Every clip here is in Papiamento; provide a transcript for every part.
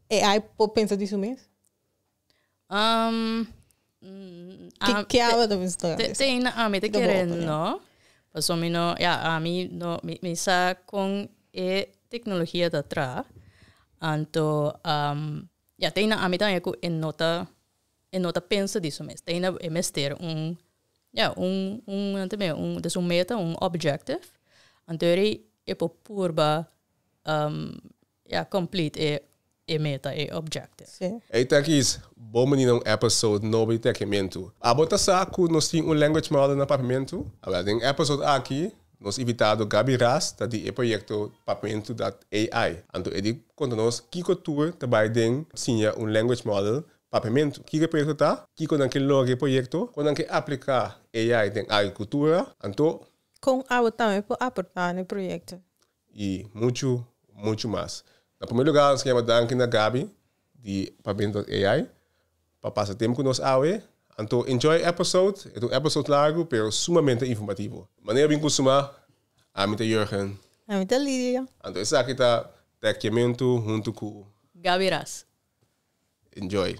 AI por pensa di su mes? Ke aba ta bisa tora desa? Te na ami ta kere no, pasobra mi no, ya ami no, mi sa kon e teknologia ta traha, anto ya te na ami tambe ku e no ta, e no ta pensa di su mes, te na e mester un, ya un un nan ta biba un des un meta, un objective, anto yori e por purba E a complete e e meta, e objective. Ei ta aki is Bo Bini na un episode nobo di Tekiamentu. Abo ta sa ku nos tin un language model na Papiamentu? Awel, den episode aki nos invitado Gaby Ras ta di e proyekto Papiamentu dat AI. Anto e di konta nos kiko tur ta bai den siña un language model Papiamentu. Kiko e proyekto ta? Kiko nan ke logra e proyekto? Kon nan ke aplika AI den agrikultura? Anto. Kon abo tambe por aporta na e proyekto? y mucho mucho mas. Na primer lugar nos kier danki na Gaby di Pavimentos AI pa pasa tempo cu nos awe. Anto enjoy episode, e ta un episode largo pero sumamente informativo. Manera a bin cusuma, ami ta Jurgen. Ami ta Lidia. Anto esaki ta Teckiamento hunto cu. Gaby Ras. Enjoy.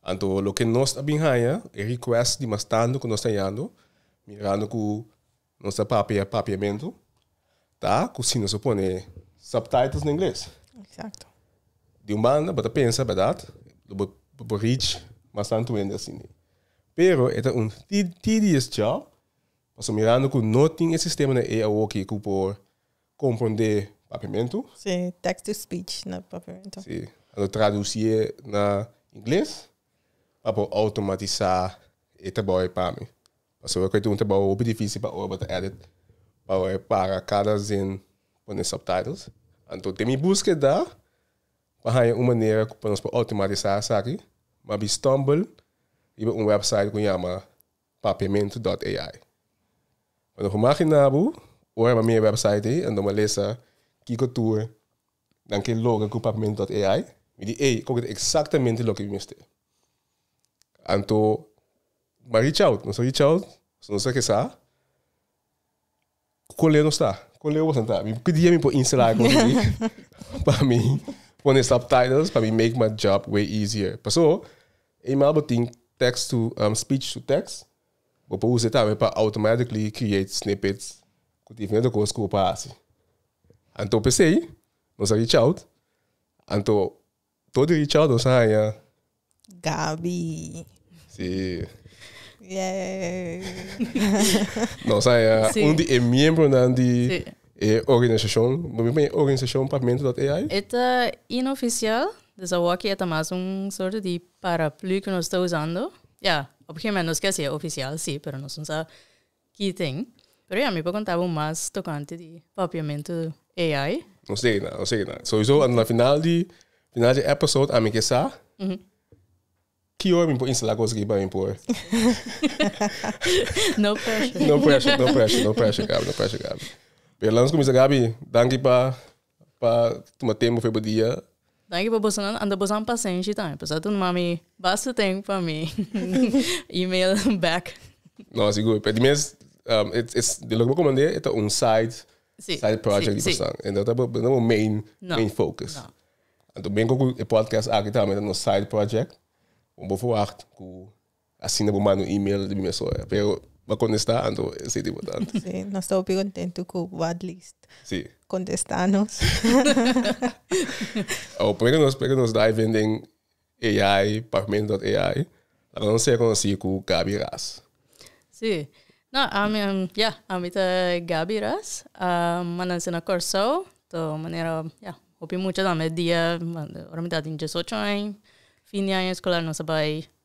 Anto loke nos a bin haña e request di mas tandu ku nos ta yando, mirando ku nos ta papia papiamentu, ta ku si nos a pone subtitles na ingles. Exacto. Di un banda bo ta pensa, berdad, lo bo por reach mas tantu hende asina. Pero e ta un tedious job, pasobra mirando ku no tin e sistema na e awoki ku por Kompondé papiamentu. Sí, text to speech na papiamentu. Sí, a lo traducié na ingles pa por automatisá e trabou ei pa mi. Pasobra cu ei ta un trabou hopi difici pa ora bo ta edit, pa bo e para cada zin pone subtitles. Anto den mi buskeda pa haña un manera cu pa nos por automatisá esaki, m'abi stumble riba un website cu yama. Papiamento dot AI. Bo lo humagina bo ora bo mira e website ei anto bo lesa kiko tur nan ke logra ku Papiamento dot AI? Mi di ey, koke ta eksaktamente loke mi mester. Anto bo a reach out, nos a reach out, nos a resa Kole nos ta? Kole boso ta? Mi pidi a mi por instala algu di mi pa mi pone subtitles pa mi make my job way easier. Paso, eenmaal bo tin text to, um, speech to text, bo por usa e tambe pa automatically create snippets cu diferente cos cu bo pa haci. Anto p'esey, nos a reach out, anto Todo e richado nos a haña. Gabi. Si. Nos a haña un di e miembronan di e organisashon. Bo mira e organisashon pa menti lòt ei ai? E ta inoficial. Dus awoki e ta mas un sorto di paraplu ku nos ta usando. Ya, op e gemen nos ke hasié ofisial, si, pero nos no sa Keating, pero ya mi por conta bo mas tocante di papiamento AI. Nos dei na, nos dei na. Sowieso anta na final di, final di episode ami ke sa ki ora mi por instala cos aki pa mi por. No pressure. No pressure, no pressure, no pressure Gabi, no pressure Gabi. Pero lanos cuminsa Gabi, danki pa. Pa tuma tempo fe bo dia. Danki pa bosonan anda bosan pasenshi tambe pasa tu mami basta ten pa mi email back. No sigur pe di mes um e e di loke bo komand'e e ta un side Si, side project di si, si. kosnan e no ta bo no bo main No, main focus. no. Anto bingo ku e podcast aki tambe ta nos side project bo bo verwacht ku Asina bo manda un email riba mi mesohora. Pero bo a contesta anto bo esey di bo ta anto. Sí, nos ta hopi contento cu bo at least sí. contesta nos. Awor, pone cu nos, pone cu nos dive in den AI, pagmento.ai, la cu nos reconoci cu Gaby Ras. Sí. No, ami, um, ja, ami ta Gaby Ras. Um, ma naci na Corsou. To manera, ja, hopi mucha tambe dia, ora mi ta tin diesocho aña, fin di aña escolar nos a bai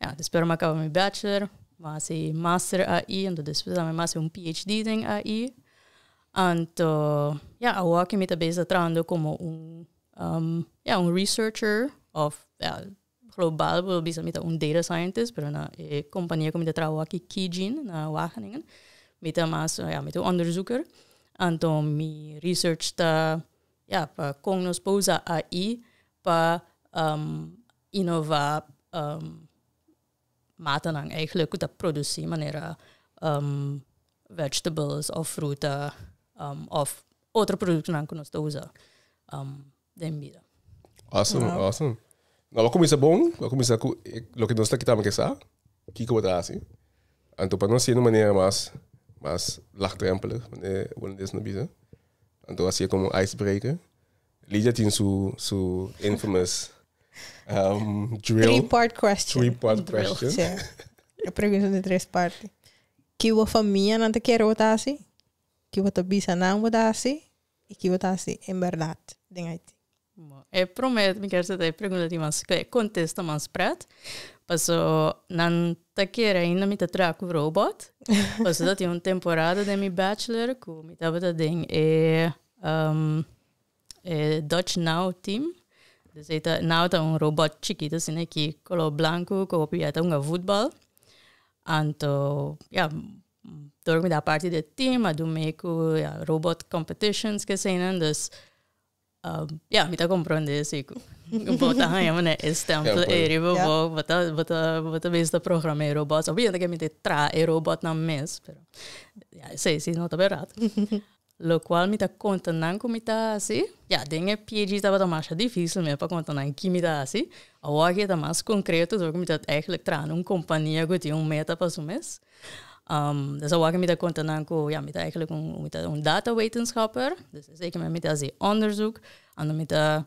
Ya, despues ora mi a kaba mi bachelor, mi a hasi master ahi, anto despues ora mi a hasi un PHD den ahi. Anto, ya, awoa ke mi ta besi ta trabando komo un, ya, un researcher òf, ya, global por lo bisa mi ta un data scientist, pero na e kompania ku mi ta trabou aki Kijin na Wageningen, mi ta mas, ya, mi ta un onderzoeker. Anto mi research ta, ya, pa kon nos por usa ahi pa. inova matanan eigenlijk ku ta produsí manera vegetables òf fruta òf otro produktonan ku nos ta usa den bida. Awesome, awesome. Bo a kuminsá bon, bo a kuminsá ku loke nos ta kita bai sa kiko bo ta hasi. Anto pa nos siña di un manera mas mas lagdrèmpelig, manera holandés lo bisa. Anto a siña komo icebreaker. Ligia tin su su infamous um, drill. Three part question. Three part drill, question. Sí. E pregunta de tres parte. Ki bo famia nan ta kere bo ta hasi? Ki bo ta bisa nan bo ta hasi? I ki bo ta hasi en berdad den Haiti? Bo, e promé mi kier seta e pregunta di mas ku e kontesta mas pret. Paso nan ta kere ainda mi ta traha ku robot. Paso ta tin un temporada den mi bachelor ku mi tabata den e E Dutch Now team, dus ei ta, Now ta un robòt chikit asina aki, kolor blanku ku hopi a ta hunga futbòl. Anto, ya, dor mi ta parti di e team, a dun mee ku robòt competitions ku eseinan, dus, ya, mi ta komprende si ku bo ta haña manera e stèmpel ei riba bo, bo ta, bo ta, bo ta bisa ta programa e robòt. Obviamente ke mi ta traha e robòtnan mes, pero, ya, esei si no ta berdad. Locual mi ta conta nan cu mi ta haci. Ya, den e PhD tabata masha dificil mi e pa conta nan ki mi ta haci. Awor aki e ta mas concreto door cu mi ta eigenlijk traha na un compania cu tin un meta pa su mes. Des awor aki mi ta conta nan cu ya, mi ta eigenlijk un data wetenschapper. Esaki mi ta haci onderzoek, ando mi ta.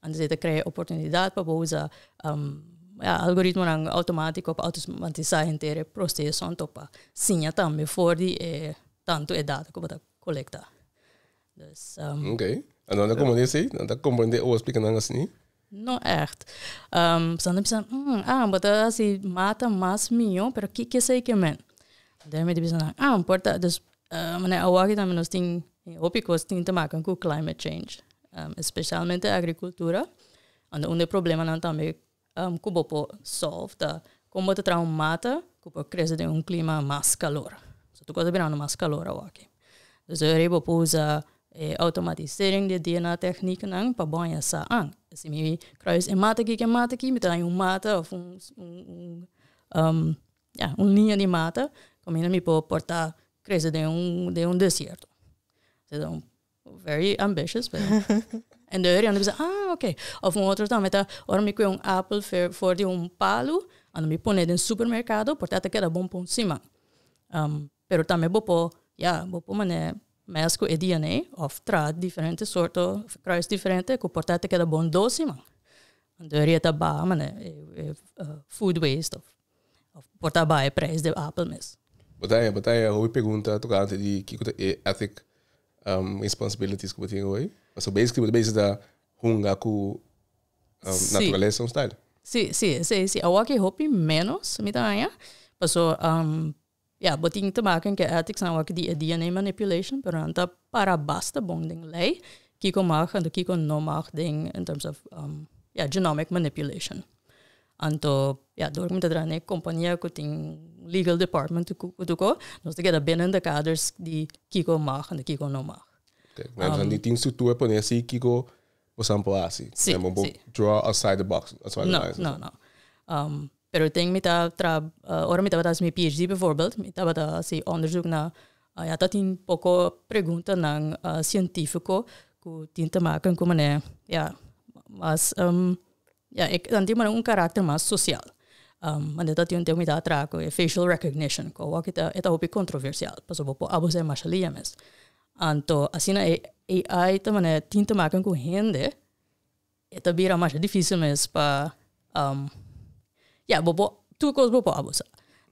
Anto esei ta krea oportunidat pa bo usa algoritmonan outomatiko pa outomatisá henter e prosesonan tok pa siña tambe for di e tantu e data ku bo ta kolektá. Dus. Ok. Anto nan ta komprendé esei? Nan ta komprendé owo splika nan asini? No ègt. Pasobra nan ta bisa, hmm, ah, bo ta hasi mata mas mihó, pero kiko esei ke men? Dor mi ta bisa nan, ah, por ta, dus Mane, awoki tambe nos tin e hopi cos tin te makan cu climate change, especialmente agricultura, unda un den problemanan tambe cu bo por solve ta con bo ta traha un mata cu por crece den un clima mas calor. So tur cos ta birando mas calor awoki. Dus dor ei bo por usa e automatisering di e dna tecnieknan pa bo haña sa an. Si mi traha e mata aki, ke mata aki, mi ta haña un mata of un Ya, un liña di mata, kaminda mi por portá krese den un, den un desierto. Seduor, very ambitious, pero. En de eur, yanda bisa, ah, ok. Òf un otro tambe ta, ora mi kue un apel fer, for di un palu, anda mi pone den supermerkado, porta ta keda bon pa un siman. pero tambe bo por, ya, bo por manera mèsk ku e dna òf traha diferente sorto, òf kruis diferente ku por ta te keda bon dos siman. Deur yeta baha manera e food waste. Of por ta bai e prijs di e apel mes? Bo ta haya, bo ta haya hopi pregunta tocante di kico ta e ethic responsibilities cu bo tin hoy. Pasobra basically bo ta bezig ta hunga cu naturalesa un style. Si, si, esey si. Awoa cu e hopi menos mi ta haya, pasobra Ya, bo tin te maka den ki ethics nan awor di e DNA manipulation, pero nan ta para basta bon den ley kiko mag anto kiko no mag den in terms of ya genomic manipulation. Anto ya dor ku mi ta traha na e kompania ku tin legal department ku tuko nos ta keda binnen de kaders di kiko mag anto kiko no mag. Nan tin structura pone asi kiko Boso nan por hasi. Sí, Nan por sí. draw outside the box. Outside the No, lines. no, no. Um, pero tin mi ta tra, uh, ora mi tabata hasi mi PhD bijvoorbeeld, mi tabata hasi onderzoek na, uh, ya ta tin poco preguntanan uh, científico cu tin te maken cu manera, ya, mas, um, ya, e tan tin manera un karakter mas social. Um, manda ta tin un tempo mi ta traha cu e facial recognition, cu awor aki ta, e ta hopi controversial, pasobra bo por abusá e mashalia mes. Anto asina e AI ta manera tin te makan ku hende e ta bira masha difisil mes pa ya bo por tur kos bo por abusa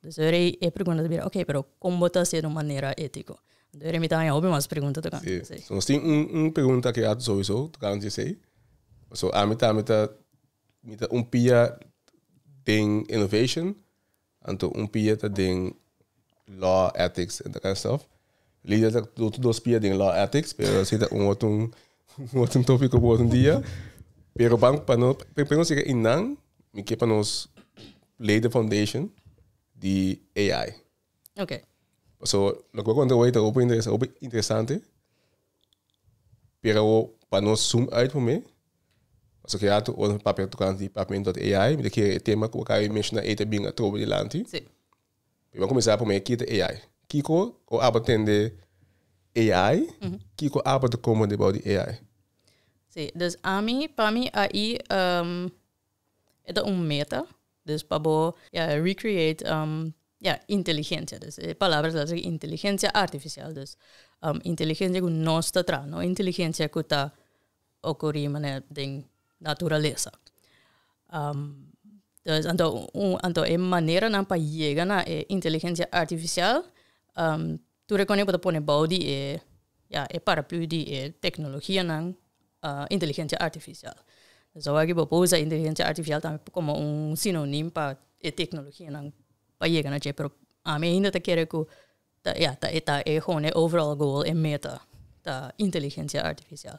dus ora e e pregunta ta bira okay pero kon bo ta hasi e di un manera etiko anto ora mi ta haña hopi mas pregunta tokante esei. Si nos tin un un pregunta ke a souiso tokante esei paso ami tambe ta mi ta un pia den innovation Anto un pia ta den law ethics en that kind of stuff. Lidia ta otro dos pia den law ethics, pero ese ta un otro un otro tópico por un día. Pero ban pa no primero si que inan mi que pa nos lay the foundation di AI. Okay. So lo que voy a contar hoy ta open interesante. Pero pa nos zoom uit momen. Paso ke rato ora mi papia tocante di pavimento di AI, mi ta kere e tema cu acabe menciona ei ta bin atrobe dilanti. Sí. Mi ban comenzá prome ki ta AI. Kiko o aba tende AI, kiko aba ta como debao di AI. Sí, dus ami, pa mi AI, ehm, E ta un meta, dus pa bo ya recreate ya inteligencia dus e palabra ta haciendo inteligencia artificial dus inteligencia cu nos ta traha no inteligencia cu ta ocuri manera den naturaleza dus anto un anto e maneranan pa yega na e inteligencia artificial Tur e kone bo ta pone bou di e, ya, e paraplu di e teknologianan, inteligensia artifisial. Dus awor bo por usa inteligensia artifisial tambe komo un sinonim pa e teknologianan pa yega na dje, pero ami ainda ta kere ku ta, ya, ta e, ta e, e overall goal, e meta, ta inteligensia artifisial.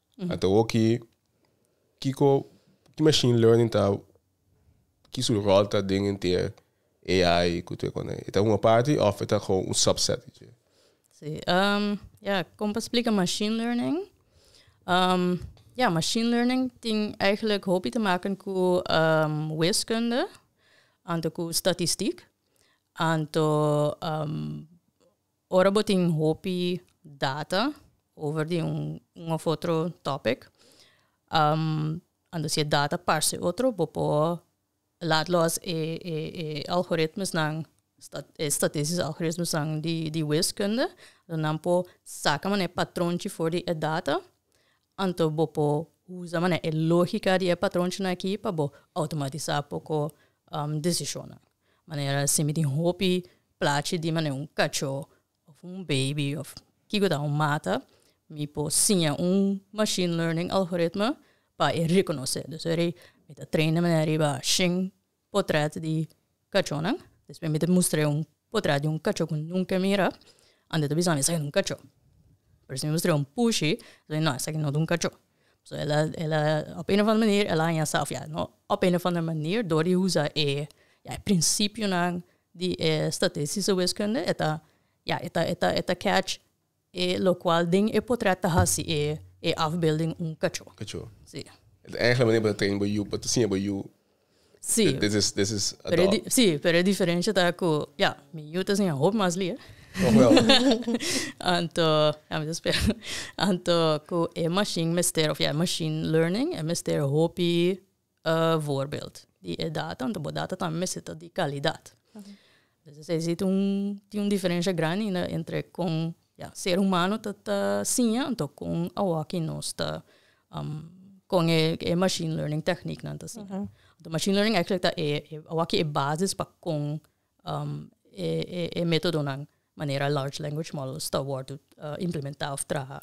a ta hoki kiko ki machine learning ta ki su rol ta den henter AI ku tur kone e ta un aparte of e ta gewoon un subset di dje? Sí, um, ja, kon pa splika machine learning? Um, ja, machine learning tin eigenlijk hopi te maken ku um wiskunde anto ku statistiek anto um Ora bo tin hopi data over di un un of otro topic, anto si e data parse otro, bo por laat los e e e algoritmesnan, e statistisch algoritmesnan di di wiskunde, nan por saka mané patron chi for di e data, Anto bo por usa manera e lógika di e patronchinan akí pa bo outomatisá poko desishonnan. Manera si mi tin hopi plachi di manera un kachó òf un beibi òf kiko ta un mata, mi por siña un machine learning algoritme pa e rekonosé. Dus ora mi ta train de manera riba shin. potrèt di kachónan. Despues mi ta mustr'é un potrèt di un kachó ku nunka e mira ante ta bisami esaki ta un kachó. Pero si mi mustr'é un pushi ta biza no esaki no ta un kachó. So el a el a òf e un òf ander manera el a haña sa òf ya no òf e un òf ander manera dor di usa e ya e prinsipionan di e statistische wiskunde e ta ya e ta e ta e ta catch E locual den e potret ta haci e e afbeelding un cacho. Cacho. Si. Enta e enkele manera pa ta train bo yu, pa ta siña bo yu. Si. This is, this is a dog. Si, pero e diferencia ta cu, ya, mi yu ta siña hopi mas lia. Toch wel. Anto, ya mi ta spera. Anto cu e machine mester, of ya, e machine learning, e mester hopi. voorbeeld di e data, anto bo data tambe mester ta di kalidat. Entonces esei si tin un tin un diferensha grandi entre kon ya ser humano ta ta siña anto kon awòkki nos ta kon e machine learning tèkniknan ta siña. Anto machine learning actually ta e e awòkki e basis pa kon e e e métodonan manera large language models ta wòrdu implementá òf traha.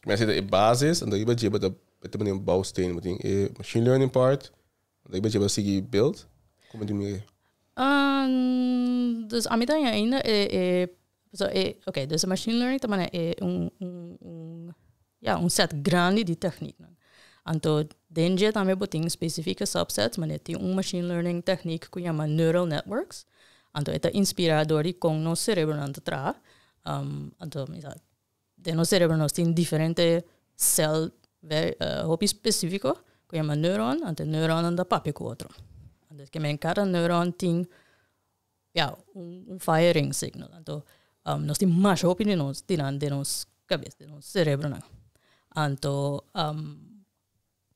Mester ta e basis, dan riba dje bo ta mester pone un bouwsteen. Bo tin e machine learning part, dan riba dje bo a sigui build. Como tin mir'e? dus ami ta haña ainda e, e, pasobra e, oké, dus e machine learning ta maneha e un, un, un, ya, un set grandi di tèkniknan. Anto den dje tambe bo tin spesifike subsets, ma e tin un machine learning tèknik ku yama neural networks. Anto e ta inspirá dor di kon nos serebronan ta traha. Anto mi sa. Den nos cerebro nos tin diferente cel hopi specifico cu yama neuron, anto e neuronnan ta papia cu otro. Anto esque men cada neuron tin ya un firing signal. Anto nos tin masha hopi di nos tinan den nos cabeza, den nos cerebronan. Anto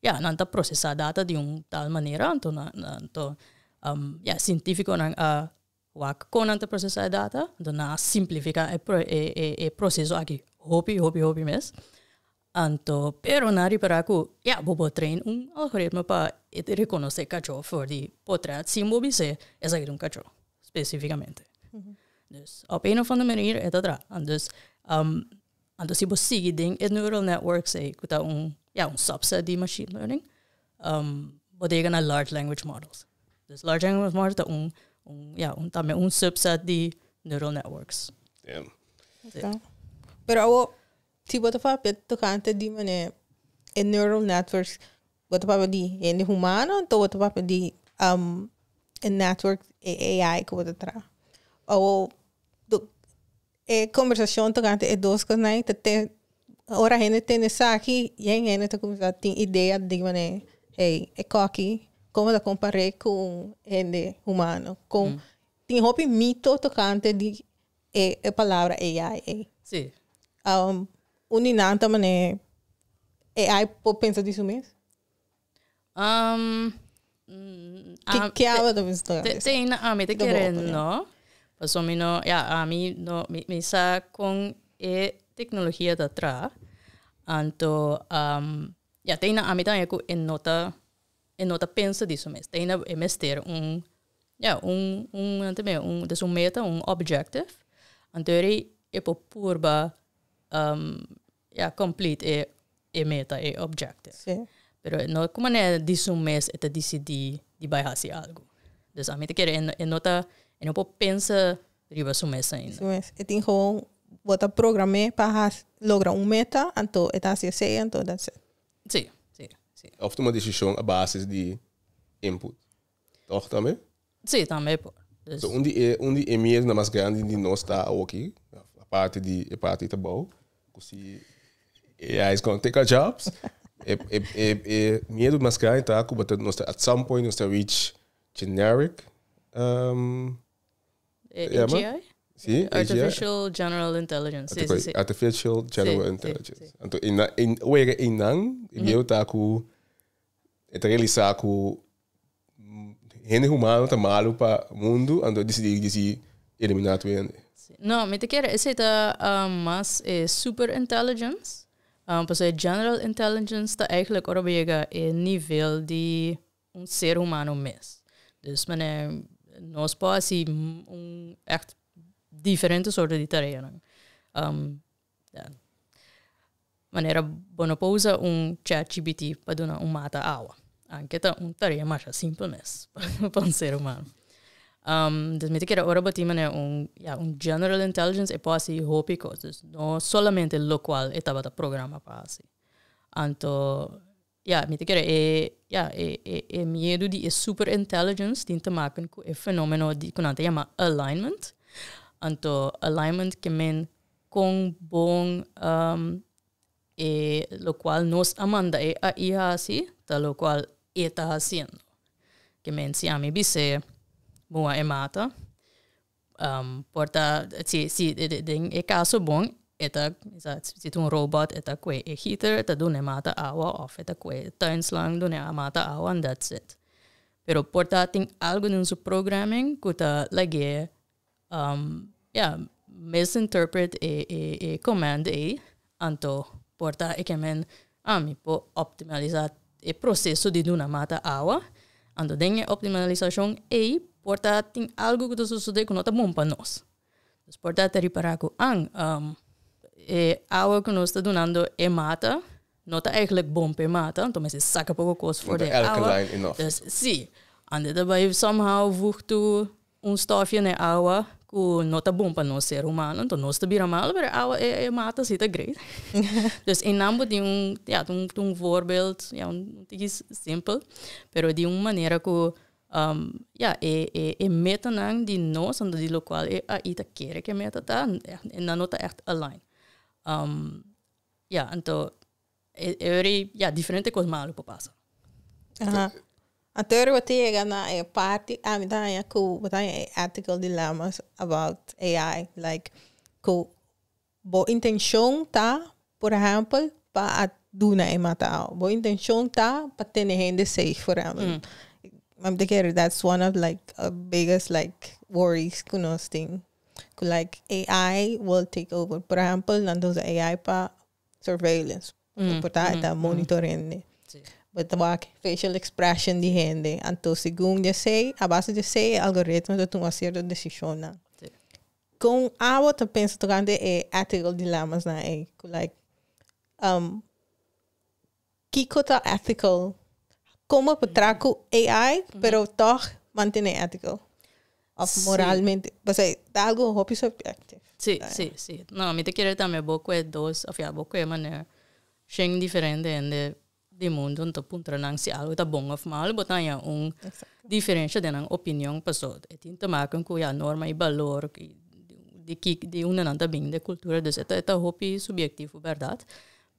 ya nan ta procesa data di un tal manera anto nan anto ya cientificonan a Wak kon nan ta prosesá e data, anto nan a simplifiká e proseso aki hopi, hopi, hopi mes. Anto, pero nan a ripará ku ya bo por train un algoritmo pa e rekonosé kachó for di potrèt sin bo bis'é esaki ta un kachó spesífikamente. Dus, op een of ander manier e ta traha. Dus, Anto si bo sigui den e neural networks ei ku ta un ya un subset di machine learning bo ta yega na large language models. Pues large language models ta un ya un tambe un subset di neural networks. Esta. Pero awo si bo ta papia tokante di manera e neural networks bo ta papia di hende humano anto bo ta papia di e network e AI ku bo ta traha? Awo E conversacion tocante e dos cosnan ta te ora hende tende esaki bien hende ta cuminsa tin idea di manera hey e coki como ta compare cu hende humano con tin hopi mito tocante di e palabra AI ey un di nan ta mane AI por pensa di su mes Um, Ki kiawe ta mester te, te, te na ami te kere no. Paso mi no, ya, ami no, mi, mi sa con e tecnologia ta tra. Anto, um, ya, te na ami también cu e nota, e nota pensa di su mes. Te na e mester un, ya, un, un, ante me, un, des un meta, un objective. Anto eri e por purba, um, e a complete e e meta e objective pero no cu manera di su mes e ta dicidi di bay haci algo dus ami ta kere e no ta e no por pensa riba su mes ainda. Su mes e tin gewoon bo ta programe pa haci logra un meta anto e ta haci esey anto that's it. Si si si. Of tuma decision a basis di input. Tòg tambe? Sí, tambe por. Dus. So un di e, un di e miedonan mas grandi di nos ta awoki, aparte di e parti ta bou, ku si AI is gonna take our jobs, e, e, e, e miedo mas grandi ta ku bata nos ta, at some point nos ta reach generic, um, Eh, Ja, ma? AGI? si, AGI. Artificial General Intelligence. Sí, sí, Artifi- sí. Artificial General Sí, sí, Intelligence. sí. Anto, einan, ein, wega einan, e miedo ta ku, e ta realisá ku hende humano ta malu pa mundu anto disidi disi elimina tu hende. No, mi ta kere esei ta um, mas e super intelligence, um, pasobra e general intelligence ta eigenlijk ora bo yega e nivel di un ser humano mes. Dus mane nos por hasi un echt diferente sorto di tareanan. Um. Manera bo no por usa un chatgpt pa duna un mata awa. Anke ta un tarea masha simpel mes pa un ser humano. Entonces mi ta kere ora bo tin manera un, ya, un general intelligence e por hasi hopi cos. No solamente locual e tabata programa pa hasi. Anto. Ya, mi ta kere e, ya, e, e, e miedu di e super-intelligence tin te maken ku e fenomeno di, ku nan ta yama alignment. Anto, alignment ke men kon bon e lokual nos a manda e AI hasi ta lokual e ta hasiendo. Ke men, si ami bis'é, bo wak e mata, por ta si si den e caso bon e ta si ta un robot e ta cue e heater e ta duna e mata awa of e ta cue e tuin slang duna a mata awa and that's it pero por ta tin algo den su programming cu ta lag'e ya misinterpret e command ey Anto por ta e kemen ami por optimalisá e proseso di duna mata awa. Anto den e optimalisashon ei por ta tin algu ku ta sosodé ku no ta bon pa nos. Dus por ta ta ripará ku an e awa ku nos ta dunando e mata no ta eigelik bon pa e mata, anto mester saka poko kos for di e awa. Si, ande ta bai somehow vugtu. un stofio n'e awa ku no ta bon pa nos ser humano, anto nos ta bira malu, pero e awa, e mata si ta great. Dus einan bo tin un, ya, tin un voorbeeld, ya, un tiki simpel, pero di un manera ku, ya, e, e, e metanan di nos, anto di lokual e AI ta kere ku e meta ta, ya, nan no ta ègt align. Ya, anto. E ori ya diferente cos malo por pasa. Anto ori bo ta yega na e parti a mi ta haña cu bo ta haña e ethical dilemmas about AI like cu bo intencion ta por ehempel pa a duna e matao bo intencion ta pa tene hende safe for ehempel ami ta kere that's one of like a biggest like worries cu nos tin cu like AI will take over por ehempel nan ta usa AI pa surveillance por ta e ta monitoreando si bo ta wak facial expression di hende anto segun di esei a base di esei e algoritmo ta tuma cierto decisionnan si con a bo ta pensa tocante e ethical dilemmas nan ei cu like um. Kiko ta ethical? Como pa tra cu AI pero toch mantene ethical? Of Sí. moralmente? Pasobra ta algo hopi subjective. Sí, ta. sí, sí. No, mi ta kere tambe bo cu e dos, of ya bo cu e manera shen diferente hende di mundo nta puntra nan si algo ta bon of malo, bo ta haña un Exacto. diferencia den nan opinion paso e tin te maken cu ya norma y balor y di ki, di unda nan ta bini, den cultura, dus e ta, e ta hopi subiectivo, berdad.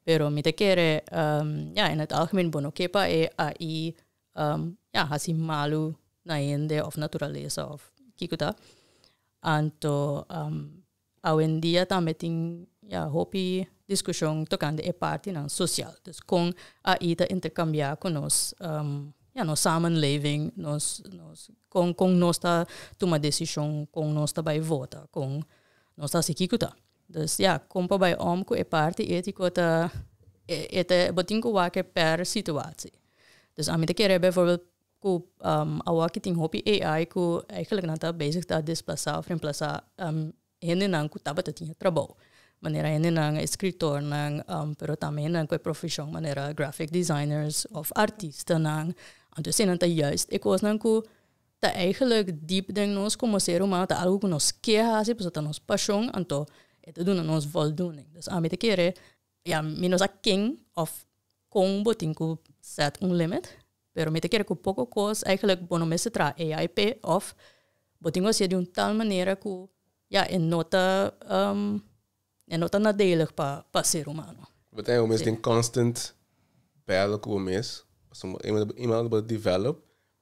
pero mi ta kere ya en het algemeen bo no ke pa e ai ya hasi malu na hende of naturalesa of kiko ta anto awendia tambe tin ya hopi diskushon tokante e partinan sosial dus kon ai ta interkambia ku nos ya nos samenleving nos nos kon kon nos ta tuma desishon kon nos ta bai vota kon nos ta hasi kiko ta. Dus ya, kon pa bai om ku e parti etiko ta e ta bo tin ku wak per situatsi. Dus ami ta kere bijvoorbeeld ku awoki tin hopi AI ku eigenlijk nan ta bezig ta desplasa of remplasá hendenan ku tabata tin e trabou. Manera hendenan eskrtornan pero tambe hendenan ku e profeshon manera grafik desainernan of artistanan. Anto eseinan ta juist e kosnan ku Ta eigenlijk diep den nos como ser humano, ta algo cu nos ke haci pasobra ta nos pasion, anto e ta duna nos voldoening. Dus ami ta kere, ya, mi no sa ken of con bo tin cu set un limit, pero mi ta kere cu poco cos eigenlijk bo no mester traha AIP of bo tin cu haci'e di un tal manera cu, ya, e no ta. E no ta nadelig pa pa ser humano. Bo ta haya bo mes den constant battle cu bo mes. Pasobra bo eenmaal bo eenmaal bo ta develop,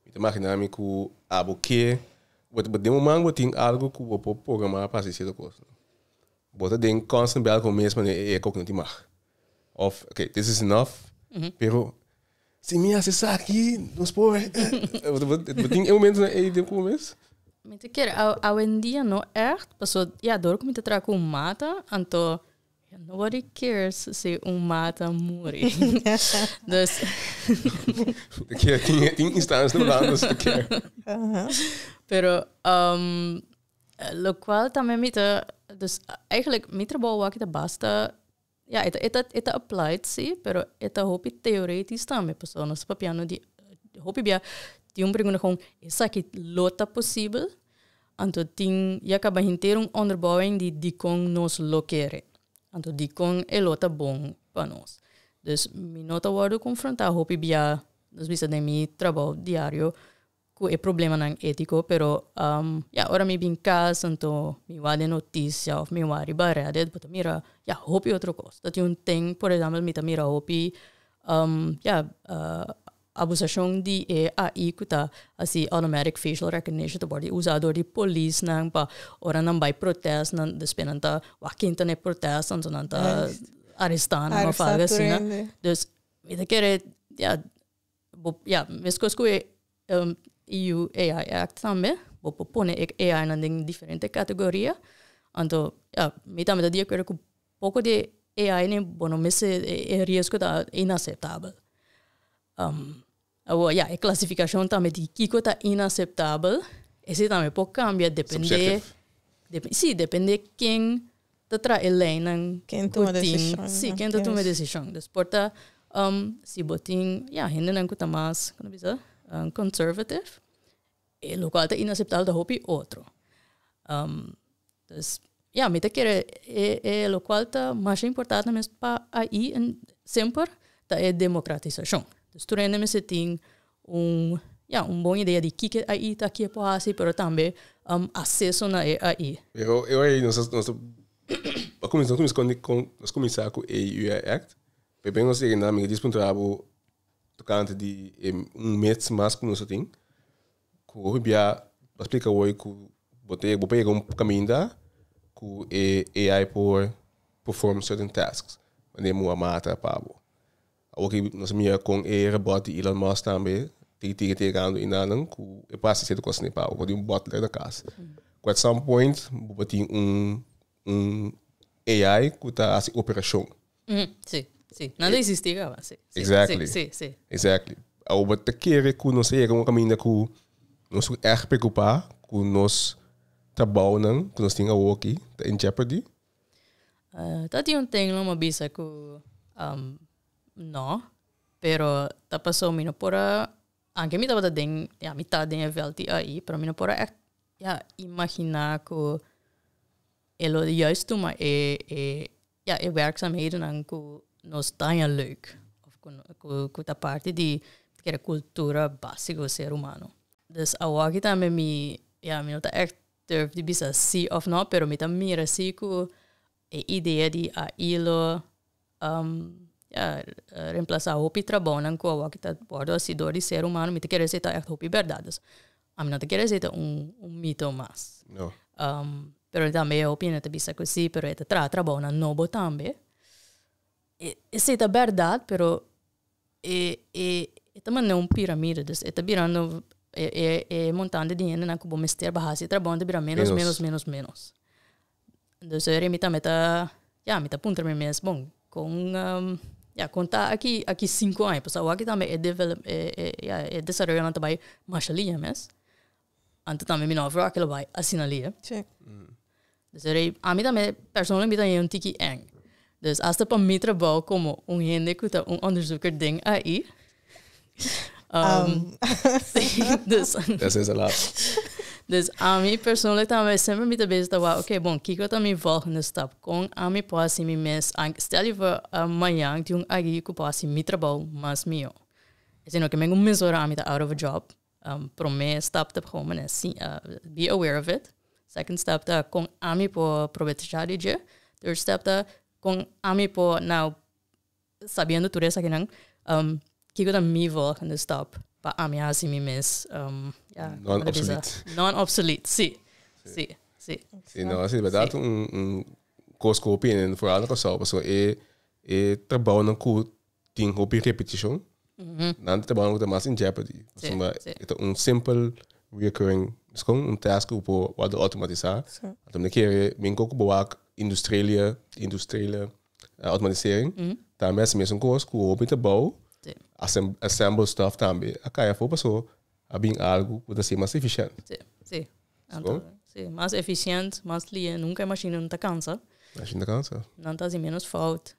mi ta magina mi cu abo ke, bo bo den bo man bo tin algo cu bo por programa pa haci cierto cos. Bo ta den constant battle cu bo mes, mane e eko cu no tin mag. Of okay, this is enough, pero Si mi hasi esaki nos por bo tin e momento na ei tempu mes? Mi ta kere awendia no echt, paso ya dor ku mi ta traha ku un mata anto nobody cares si un mata muri. Dus Tin instansha holando si ta kere. Pero lokual tambe mi ta, dus eigenlijk mi trabou aki ta basta Ya, e ta e ta applied si, pero e ta hopi teoretis tambe, pasobra nos ta papiando di hopi bia tin un pregunta kon esaki lo ta posibel, anto tin ya kaba henter un onderbouwing di dikon nos lo kere, anto dikon e lo ta bon pa nos. Dus mi no ta wòrdu konfrontá hopi bia nos bisa den mi trabou diario cu e problemanan etico pero ya ora mi bin cas anto mi wak den noticia of mi wak riba redes bo ta mira ya hopi otro cos ta tin un ten por example mi ta mira hopi ya abusacion di e AI cu ta haci automatic facial recognition ta wordo usa door di polisnan pa ora nan bay protest nan despues nan ta wak ken ta ne protest anto nan ta aresta nan of algo asina dus mi ta kere ya bo ya meskos ku e EU AI Act tambe bo por pone e AI nan den diferente kategoria anto ya mi tambe ta di akuerdo ku poko di e AI nan bo no mester e riesgo ta inaseptabel awor ya e klasifikashon tambe di kiko ta inaseptabel esei tambe por kambia depende si depende ken ta trahe leynan ku tin, sí, ken ta tuma e desishon. Pues por ta si bo tin, ya, hendenan ku ta mas, kende bisa? Conservative, e lokual ta inaseptabel ta hopi otro. Pues, ya, mi ta kere e lokual ta masha importante mes pa ahi, semper, ta e demokratisashon. Tur hende mester tin. un ya un bon idea di kiko e AI ta ke por hasi pero tambe aseso na e AI. E AI nos ta nos ta kuminsá nos ta kuminsá ku AI act p'e nos yega nan mi ta disa puntra bo tokante di e un mets mas ku nos a tin ku hopi bia bo a splika wòrdu ku bo ta bo por yega un kaminda ku e AI por perform certain tasks manera mi a mata pa bo. Awor ki nos a mira con e robot di Elon Musk tambe tin tin te gando inanan cu e por haci cierto cosnan pa awor di un butler na cas. Cu at some point bo por tin un un AI cu ta haci operacion. Mm, si, si. Nan ta existi caba, si, si, Exactly. si, si, si. Exactly. Awor bo ta kere cu nos ta yega un caminda cu nos su erg preocupa cu nos trabounan cu nos tin awor aki ta in jeopardy? Ah, ta tin un tenglan bo a bisa ku no, pero ta paso mi no por a, anke mi tabata den, ya mi ta den e vlti, pero mi no por a echt ya imagina ku e lo juist tuma e e, ya e werkzaamhedennan ku no staña leuk, òf ku no, ku ta parti di kere kultura básiko ser humano. Dus awòkita mi, ya mi no ta echt durf di bisa si of no pero mi ta mira si cu e idea di AI lo ya remplasa hopi trabounan cu awor ta wordo hasi door di ser humano mi ta kere si ta echt hopi berdad dus ami no ta kere si ta un un mito mas pero tambe e hopi hende ta bisa cu si pero e ta traha trabounan nobo tambe. Esei ta bèrdat, pero e e ta manera un piramide. Dus e ta birando e e e montante di hendenan ku bo mester pa hasi e trabou ta bira ménos, ménos, ménos, ménos. Dus ora mi tambe ta, ya mi ta puntra mi mes, bon, kon ya kon ta aki aki sinku aña? Pasobra awaki tambe e develop e e ya e desaroyonan ta bai masha lihia mes. Anto tambe mi no a froa ke lo bai asina lei. Dus e rei, ami tambe personalmente mi ta hei un tiki èng. Dus asta pa mi trabou komo un hende ku ta un ònderzoeker den AI. Dus ami persoonlijk tambe semper mi ta bese ta wou, oké, bon, kiko ta mi vòlgende stap? Kon ami por hasi mi mes a stèl yu for mañan tin un AI ku por hasi mi trabou mas mihó? Sino ke men ku un mes ora ami ta out of a job. Um, promé stap ta pasobra manera si, uh, be aware of it. Second step ta kon ami por provecha di dje. Third step ta kon ami por now, sabiendo tur esakinan, um, kiko ta mi rol in the stop pa ami a hasi mi mes, um, ya. Non-obsolete. Non-obsolete, si. Si. Si. Si, no, si, bèrdad, un, un kos ku hopi hende, foral na Kòrsou, paso e, e trabounan ku tin hopi repeticion, nan ta trabaha ta mas in jeopardy. Sí, Suma, sí. e ta un simple reoccurring, dus kon un task ku bo wa do automatisa. Sí. Atom de kere, min ko ku bo wak industriële, industriële eh, automatisering, tambe hasi mesun kos ku hopi ta bou, Sí. asem- assemble stuff tambe a kai afo paso a bin algo ku ta ser mas eficiente. Sí, sí. Nan Sko? ta- sí, mas eficiente, mas lihe. Nunca e machine no ta cansa. Machine ta cansa. Nan ta haci menos fout.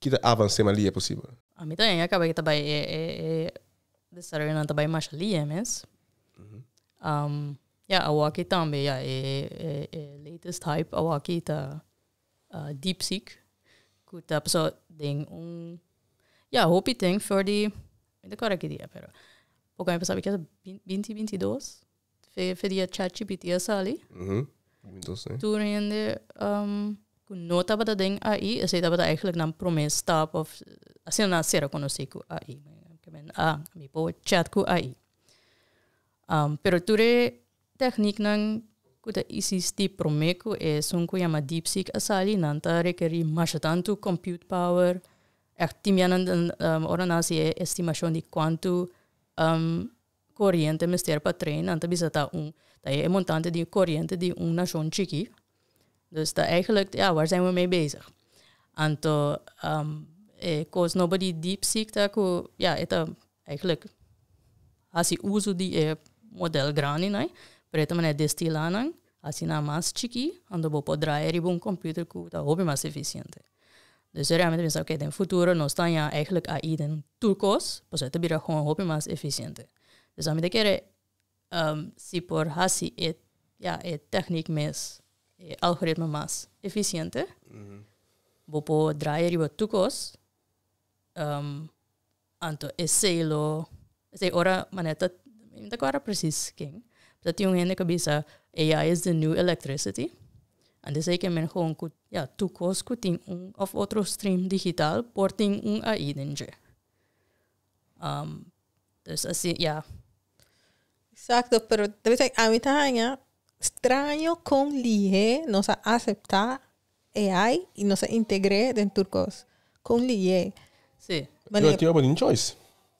kita avans'é mas lia posibel. A mi también a caba que ta bay e desaroyonan ta bay masha lia mes. Ya awaki tambe ya e latest hype awaki ta deepseek cu ta paso den un ya hopi den for di mi ta acorda ki dia pero poco a mi paso a mi kier binti bintidos. Fe fe dia ChatGPT a sali. Tur hende um, ku no tabata den AI, esei tabata eigenlijk nan promé stap of asina nan sera konosé ku AI. Ke men, ah, mi po chat ku AI. Um, pero tur e teknik nan ku ta isisti promé ku e sun ku yama DeepSeek a sali, nan ta rekeri masha tantu compute power, Ek timia nan, um, ora nan hasi e estimashon di kuantu um, koriente mester pa tren, nan ta bisa ta un, ta e montante di koriente di un nashon chiki. Dus ta eigelijk, ja, waar zijn we mee bezig? Anto, e kos nobo di DeepSeek ta ku, ja, e ta eigelijk hasi uso di e modèl grandi, nan, pret manera destilá nan. Asina mas chikí anto bo por draai riba un computer cu ta hopi mas eficiente. Dus e realmente pensa oké den futuro nos ta haña eigenlijk AI den tur cos pasobra e ta bira hoon hopi mas eficiente. Dus ami ta kere si por haci e ya e techniek mes e algoritme mas eficiente bo por draai riba tur cos Anto esei lo esei ora manera ta mi no ta cuadra precies ken pero tin un hende cu a bisa AI is the new electricity anto esei ke men gewoon cu ya tur cos cu tin un of otro stream digital por tin un AI den dje dus asi ya. Exacto pero ami ta haya straño con lihe nos a acepta AI y nos a integr'é den tur cos. Con liy'é. Sí. Mane. Yo tin abo nin choice.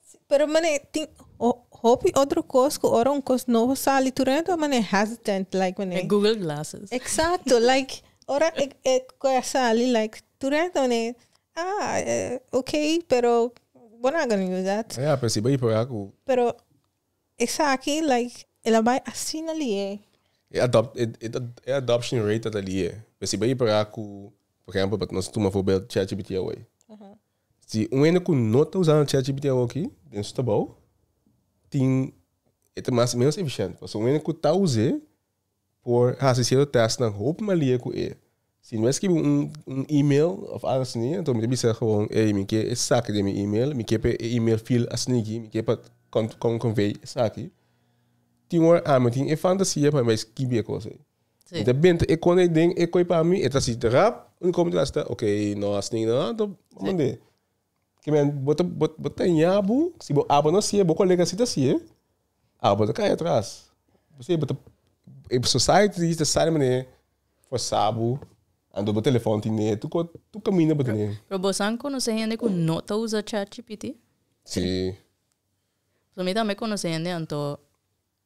Sí, pero mane tin ho- hopi otro cos cu ora un cos nobo sali tur e ta mane hesitant like mane. E Google glasses. Exacto, like ora e e cu a sali like tur e ta mane ah eh okay pero bo no a gana use dat. Ja, principio di proba cu. Pero. Esaki like el a bai asina li'e. E adopt e e adoption rate ta ta li'e. Pero si bo e para cu por ejemplo pa nos tuma voorbeeld chatgpt awor. Si un hende cu no ta usando chatgpt awor aki den su tabao tin e ta mas menos eficiente. Pasobra un hende cu ta uze Por hasi cierto testnan hopi malia cu e. Si no e scribi un un email of algo asini, enton mi ta bisa gewoon ey mi ke esaki den mi email, mi ke pa e email feel asini aki, mi ke pa con con convey esaki. Tin un hora ami tin e fantasia pa mi bay scribi e cosa ey. Mi ta benta e con ey den e coi pa mi, e ta si rap, unico mi ta hasi ta, ok, no asini no, enton bo mande. Ki men, bo ta, bo, bo ta ña bu, si bo abo no sie, bo kolega si ta sie, ah, bo ta kai atras. Bo si, bo ta, e society di ta sali mane forsa bu, ando bo telefon tine, tu ko, tu kaminda bo tene. Pero bo san konosé hende ku no ta usa chat gpt? Si. Pasobra mi tambe konosé hende anto.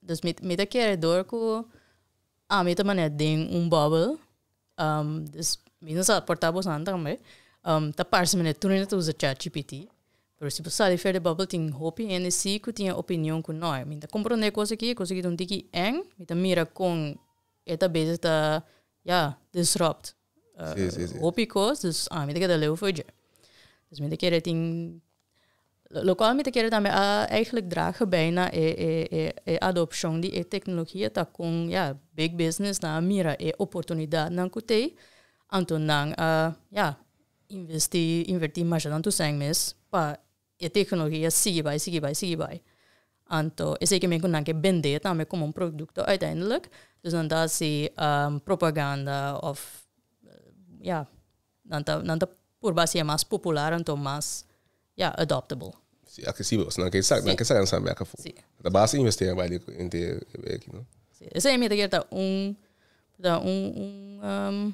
Dus mi mi ta kere dor ku ami ta manera den un bòbel, dus mi no sa portá bosan tambe, ta parse manera tur hende ta usa chat gpt, pero si bo sali for di e bòbel tin hopi hende si ku tin e opinion ku nò, mi ta komprondé kos aki, e kos aki ta un tiki èng, mi ta mira kon e ta bese ta, ya, disrupt. Sí, sí, sí. Hopi cos, dus a mi ta keda leu for dje. Dus mi ta kere tin, lo cual mi ta kere tambe a eigenlijk dragen bij na e, e, e, e adopcion di e tecnologia ta con, ja, big businessnan a mira e oportunidadnan cu t'ei, anto nan a, ja, investi, inverti masha tanto cent mes pa E teknologia sigui bai, sigui bai, sigui bai. Anto esei ke men ku nan ke bend'é tambe komo un produkto uiteindelijk, dus nan ta hasi propaganda òf ya, nan ta nan ta purba hasi'é mas popular anto mas ya adoptable. Si, aksesibel, pasobra nan ke sa nan ke sa lansa merk afu. Si. Nan ta basta investera bai den hende e beki, no? Si, esei mi ta kere ta un ta un un.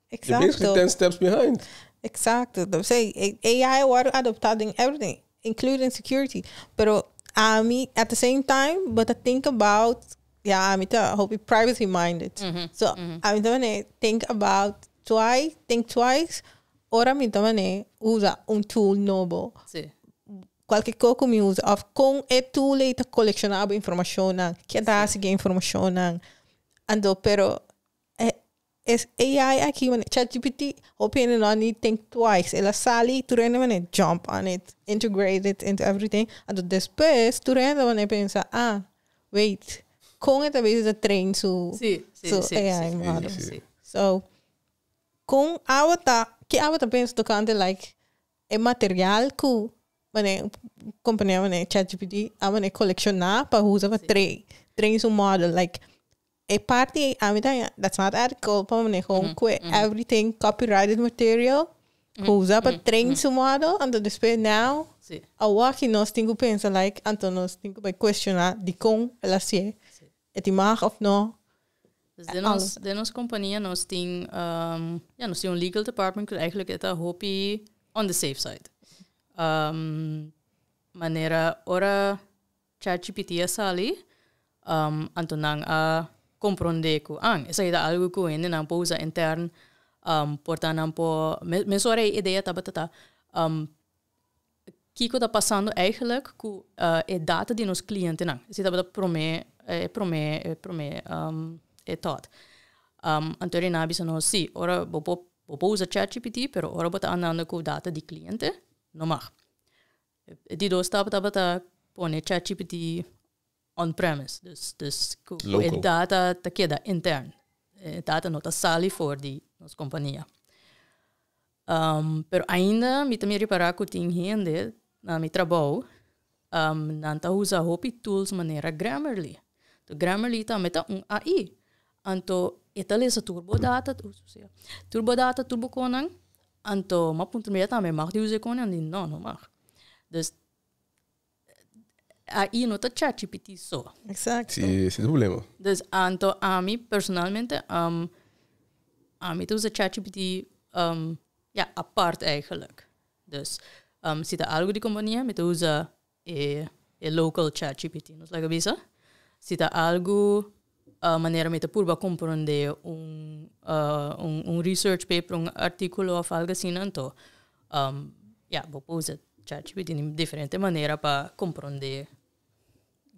Exacto. You're basically 10 steps behind. Exacto. Entonces, AI a word adoptado in everything, including security. Pero ami, at the same time, but I think about, ja, ami ta hopi privacy minded. Mm -hmm. So, mm -hmm. ami ta mane, think about twice, think twice, ora mi ta mane, usa un tool nobo. Sí. Cualquier cosa que mi usa, of con e tool e ta colecciona abo informacion, que ta hace que informacion. Ando, pero Es AI aki mane chat gpt hopi hende no a need think twice el a sali tur hende mane jump on it integrate it into everything anto despues tur hende mane pensa ah wait kon e ta bezi ta train su AI model so kon awa ta ki awa ta pensa tocante like e material cu mane compania mane chat gpt a mane colecciona pa usa pa train su model like E parti ei ami ta haya that's not ethical pa mane home kue everything copyrighted material ku usa pa train su model anto despues now Sí. awaki nos tin ku pensa like anto nos tin ku bai cuestiona dikon el a sie e tin mag of no Dus den Al- ons den ons kompania nos tin ehm ya nos tin un legal department ku eigenlijk e ta hopi on the safe side ehm manera ora ChatGPT a sali, anto nan a komprondé ku an, esei ta algu ku hendenan por usa intern, por ta nan por mes ora e idea tabata ta, kiko ta pasando eigelijk ku e data di nos klientenan? Esei tabata e promé e promé e promé e thought. Anto ri nan a bisa nos, sí, ora bo por bo por usa ChatGPT, pero ora bo ta andando ku data di kliente, no mag. E di dos stap tabata pone chatgpt on premise, dus dus ku e data ta keda intern, e data no ta sali for di nos kompania. Pero ainda mi ta mi repará ku tin hende na mi trabou, nan ta usa hopi tools manera Grammarly. Grammarly tambe ta un AI. Anto e ta lesa tur bo data, tur bo data, tur bo konan, anto m'a puntra mi, e ta mi mag di usa e konan? Di no, no mag. Dus, ahi no ta chatgpt so. Exacto. Si, si es un problema. Dus anto ami personalmente, um, ami ta usa chatgpt, um, ja, apart eigenlijk. Dus, um, si ta algo di compania, mi ta usa e e local chatgpt nos laga bisa si ta algu manera mi ta purba compronde un un un research paper un articulo of algo asina anto ya bo por usa chatgpt di diferente manera pa compronde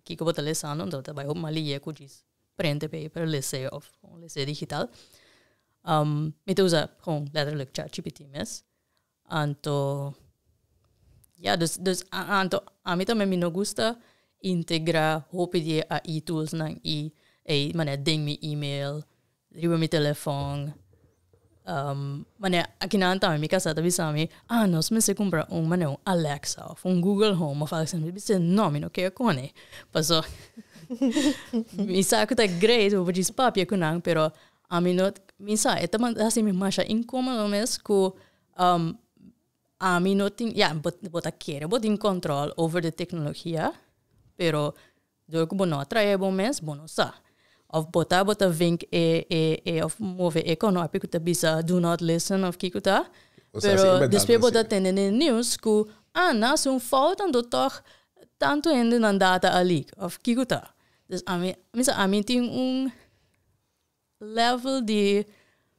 kico bo ta lesando anto ta bai hopi mas lie cu djis prente paper lese of un lese digital mi ta usa leteralek chatgpt mes. Anto ya dus dus anto ami tambe mi no gusta integra hopi di e AI tools nan i ei manera den mi email riba mi telefon um manera aki nan tambe mi kasa ta bisa mi ah nos mester kumpra un manera un Alexa of un Google home of algo así mi bisa no mi no ker kune pasobra mi sa ku ta great mi por djis papia ku nan pero Ami no mi sa e ta hasi mi masha incomodo mes cu um ami no tin ya bo bo ta kere bo tin control over de tecnologia pero door cu bo no a trae bo mes bo no sa of bo ta bo ta vink e e e of move e conopje cu ta bisa do not listen of kico ta pero despues bo ta tende den news cu ah nan haci un fout anto toch tanto hendenan data a leak of kico ta dus ami mi sa ami tin un level di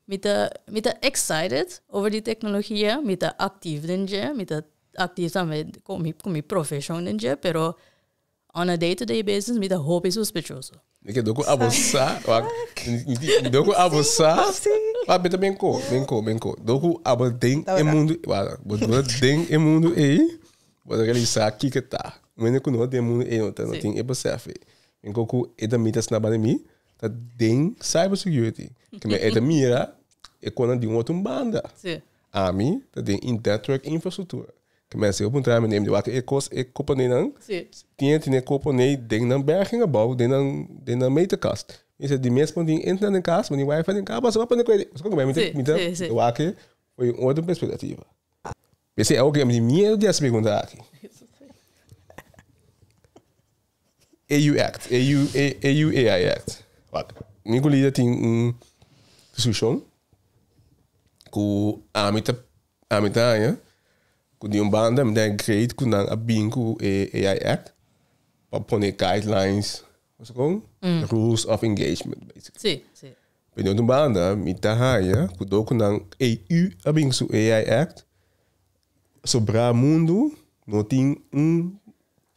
mi ta mi ta excited over di tecnologia mi ta actief den dje mi ta actief tambe con mi con mi profesion den dje pero on a day to day basis mi ta hopi sospechoso. Mi ke doko abo sa wak mi doko abo sa wak beta ben ko ben ko ben ko doko abo den e mundo wala bo dura den e mundo ey bo ta realiza kiko ta un hende ku no den mundo ey no tin e besef ey mi ko ku e ta mi ta snaba de mi ta den cyber security. Ke me eta mira e konan di un otro banda. Sí. Ami ta den in network infrastructura. Ke men siga puntra mi nem di wak e kos e kopanenan. Sí. Tien tine kopone den nan bergen abou den nan den nan meterkast. Mi se di mes pon tin internet den kas, pon tin wifi den kas, basta pa pone kweri. Basta pa mi ta mi ta wak e for un otro perspectiva. P'esei awor ku yami tin miedu di hasi pregunta aki. AU Act, AU, A- AU AI Act. Wak, Nicolita tin un resolushon ku ami ta ami ta haña ku di un banda mi ta haña great ku nan a bin ku e AI Act pa pone guidelines Kosa kon? Rules of engagement, basically. Sí, sí. Pero di un banda, mi ta haya ku dokunan AU a bin su AI Act, sobrá mundu no tin un,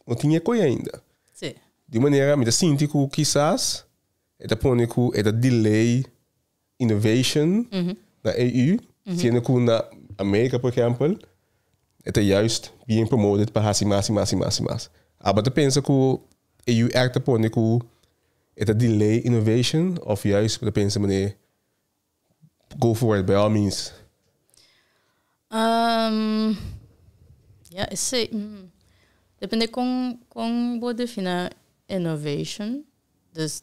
no tin e koe ainda. Sí. Di un manera mi ta sinti ku kisas e ta pone ku e ta delay innovation na EU, siendo cu na America, por ejempel, e ta juist bien promoted pa haci mas y mas y mas y mas. Aba ta pensa cu EU èk ta pone cu e ta delay innovation of juist bo ta pensa manera go for it by all means? Um, ja, esey, hmm, depende con, con bo defina innovation. Dus,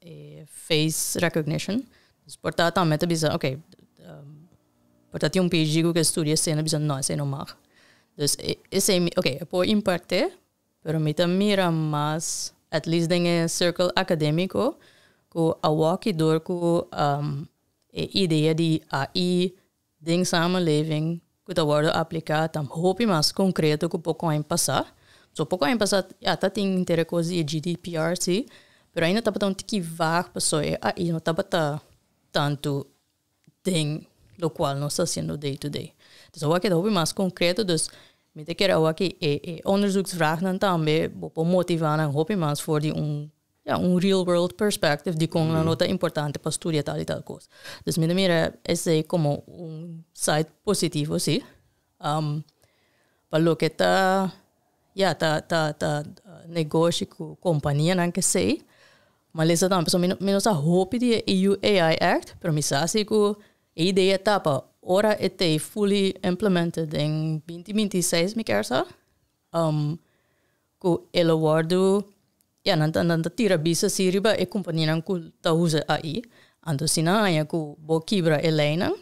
e face recognition dus por ta tambe ta bisa ok por ta tin un phd ku ke estudia esei na bisa no esei no mag dus esei mi ok e por imparte pero mi ta mira mas at least den e circle academico ku a walk y door ku e idea di ai den samenleving ku ta wòrdu apliká ta hopi mas konkreto ku poko aña pasá. So poko aña pasá ya ta tin inter e kos di e GDPR sí, pero ainda tabata un tiki vag pasobra e AI no tabata tantu den lokual nos ta hasiendo day to day. Dus awoa keda hopi mas konkreto, dus mi ta kere awoa ku e onderzoeksvraagnan tambe bo por motivá nan hopi mas for di un Ya, un real world perspective di kon nan lo ta importante pa studia tal i tal kos. Dus mi ta mira esei komo un side positivo, si. Pa loke ta, ya, ta, ta, ta negoshi ku kompanianan kesei, malesa tambe pasobra mi no, mi no sa hopi di e EU AI Act, pero mi sa si ku e idea ta pa ora e ta e fully implemented den binti binti i seis mi kier sa, ku e lo wòrdu, ya nan ta nan ta tira bisto así riba e kumpanianan ku ta usa ai. Anto si nan haña ku bo kibra e leinan,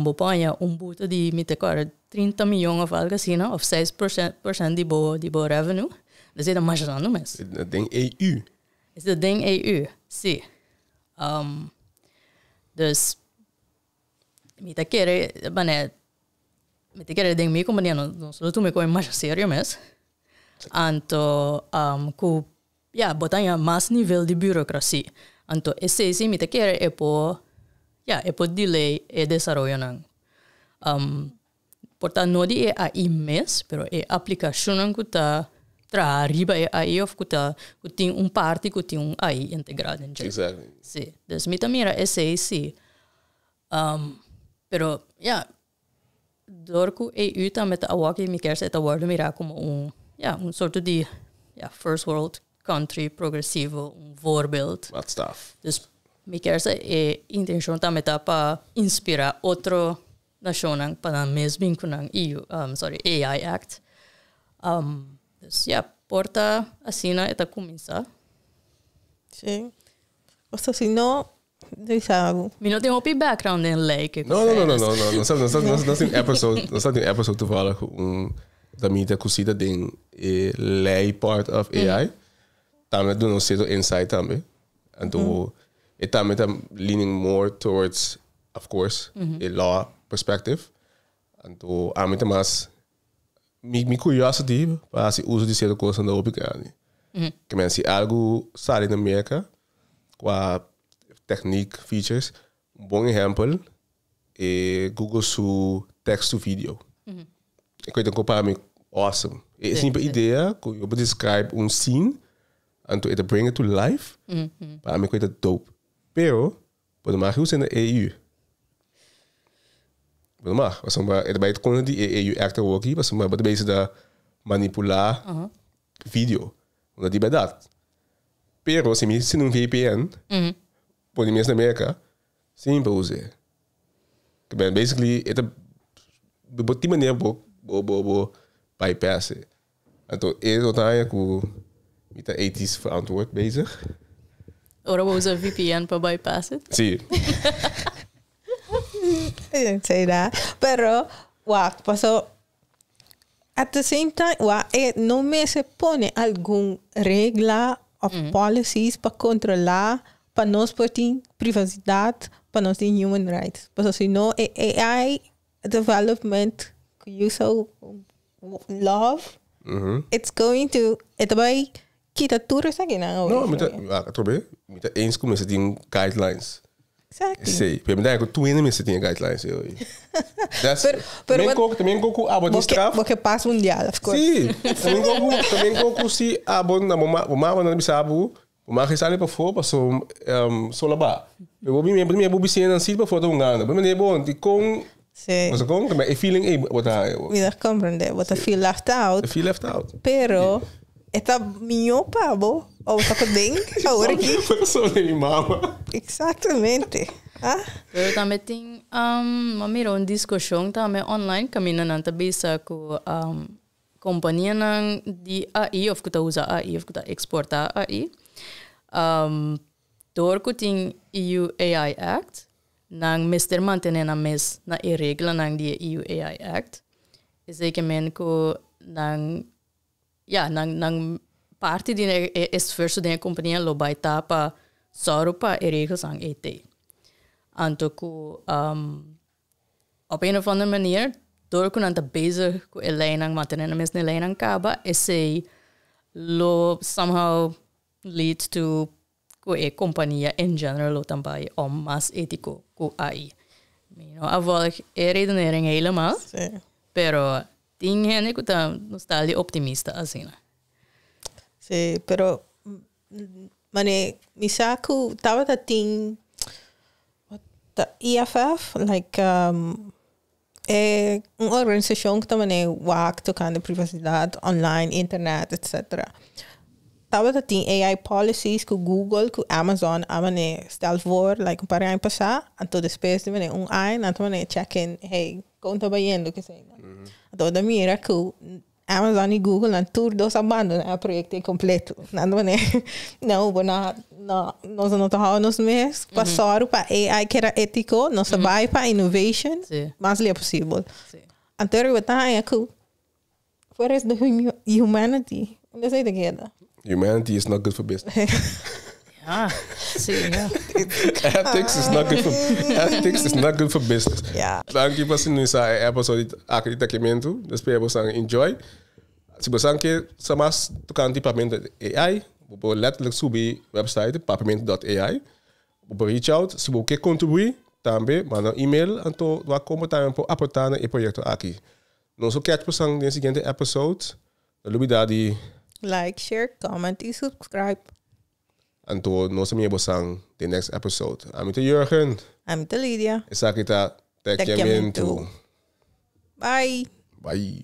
bo por haña un buto di, mi ta kòrda, trinta miyon òf algu asina, òf seis pòrsènt di bo di bo revenue. Esei ta masha grandi mes. E ta den EU? Esei ta den EU, sí. Dus. Mi ta kere manera mi ta kere den mi kompania nos lo tuma e kos masha serio mes anto ku ya bo ta haña mas nivel di burokrasi anto esei si mi ta kere e por ya e por delay e desaroyonan. Por ta no di e ai mes, pero e aplikashonnan ku ta traha riba e ai òf ku ta ku tin un parti ku tin un ai integrá den dje. Exactly. Sí. Dus mi ta mira esei sí. pero, ya, dor ku EU tambe ta awòkio mi kèr sa e ta wòrdu mirá komo un, ya, un sorto di, ya, first world country progresivo, un voorbeeld. Wat staf. Dus mi kèr sa e intenshon tambe ta pa inspirá otro nashonnan pa nan mes bin ku nan EU, sorry, AI Act. Dus ya, por ta asina e ta kuminsá. Sí. Kosa así no di sa. Mi no tin hopi background den lei ke No, no, no, no, no, no. Nos nos nos nos tin episode, nos tin episode toevallig un damita kusita den e lei part of AI. Tambe duna un seto insight tambe. Anto e tambe ta leaning more towards Of course, e law perspective. Anto ami ta mas, mi, mi curiosity pa haci uso di cierto cosnan ta hopi grandi. Ke men si algo sali na Merca, qua techniek, features, un bon ehempel e Google su text to video. E koe ta go para mi awesome. E simple idea cu yo por describe un scene, anto e ta bring it to life, para mi koe ta dope. Pero. Bo no mag usa na EU. Bo no mag, pasobra e ta bai contra di e EU Act awor aki, pasobra bo ta bezigda manipula video. Unda di berdad. Pero si mi sina un VPN, pone mes na Merca, sin pa usa e. Ta bene, basically, e ta, bo tin manera bo, bo, bo, bo bypass e. Anto e lo ta haña ku mi ta etis verantwoord bezig. Ora bo usa vpn pa bypass it? Si. Say da. Pero wak, paso at the same time wa e no mester pone algun regla of policies pa kontrolá pa nos por tin privasidad, pa nos tin human rights. Paso si no e AI development cu you so love it's going to e ta bay kita tur esakinan away No, mi ta, from you. ah, otro vez, mi ta eens cu mester tin guidelines. Exactly. Sí, pero mi ta cu tú en mester tin guidelines. eh, oye. That's, Pero- pero también wat- coco, también coco abo di Bo ke- straf. bo ke pas mundial, of course. Sí, también coco, también coco sí abo na mama, mama na bisa abo, Bo mag e sali pafó paso sol a baha. Pero bo bini primer bo bisinan nan siti pafó ta un gana. Bo mende bon di con bo ta con e feeling ey bo ta haña. Mi ta comprende. Bo ta feel left out. Ta feel left out. Pero e ta miño pa bo ora bo ta paden awor aki. Bo ta solo den mi mama. Exactamente. Ah. Pero tambe tin um bo mira un discusion tambe online caminda nan ta bisa cu um. kompanianan di AI òf ku ta usa AI òf ku ta eksportá AI, dor ku tin EU AI Act, nan mester mantené nan mes na e reglanan di e EU AI Act. Esei ke men ku nan, ya, nan nan parti di e esfuerso den e kompania lo bai ta pa sòru pa e reglanan ei tei. Anto ku. Op een of ander manier, dor ku nan ta bezig ku e leinan matene nan mes na e leinan kaba, esei lo somehow lead to ku e kompania en general lo ta bai om mas etiko ku ai. Mi no a volg e redenering helemal, pero tin hende ku ta nostalgia optimista asina. Si, pero Mane mi sa cu tabata tin EFF like e un organisacion cu ta mane wak tocante privacidad online internet etcetera tabata tin AI policies cu google cu Amazon a mane stel voor like un par de aña pasa anto despues di un aña nan ta mane check in hey con ta bayendo esaki anto nan ta mira cu Amazon y Google nan tur dos a bandona e proyecto ei completo nan ta manda nan hobo na na nos no ta hou nos mes pa sor pa AI keda etico nos ta bay pa innovation mas lia posibel anto riba taña cu fuera esde humanity esei ta keda. Humanity is not good for business. Ja, sí, ja. Ethics is not good for ethics is not good for business. Ja. Danki pa sinoniza e episode aki di Tekimentu. Nos spera bo san enjoy. Si bo san ke sa mas tocante papiamento.ai, bo por letterlijk subi website papiamento.ai. Bo por reach out. Si bo ke contribui tambe, manda un email anto dor a como tambe bo por aporta na e proyecto aki. Nos lo catch bo san den e siguiente episode. No lubida di. Like, share, comment y subscribe. Anto nos a mira bo san den next episode. Ami ta Jurgen. Ami ta Lidia. Esaki ta Tekiamentu. Bye. Bye.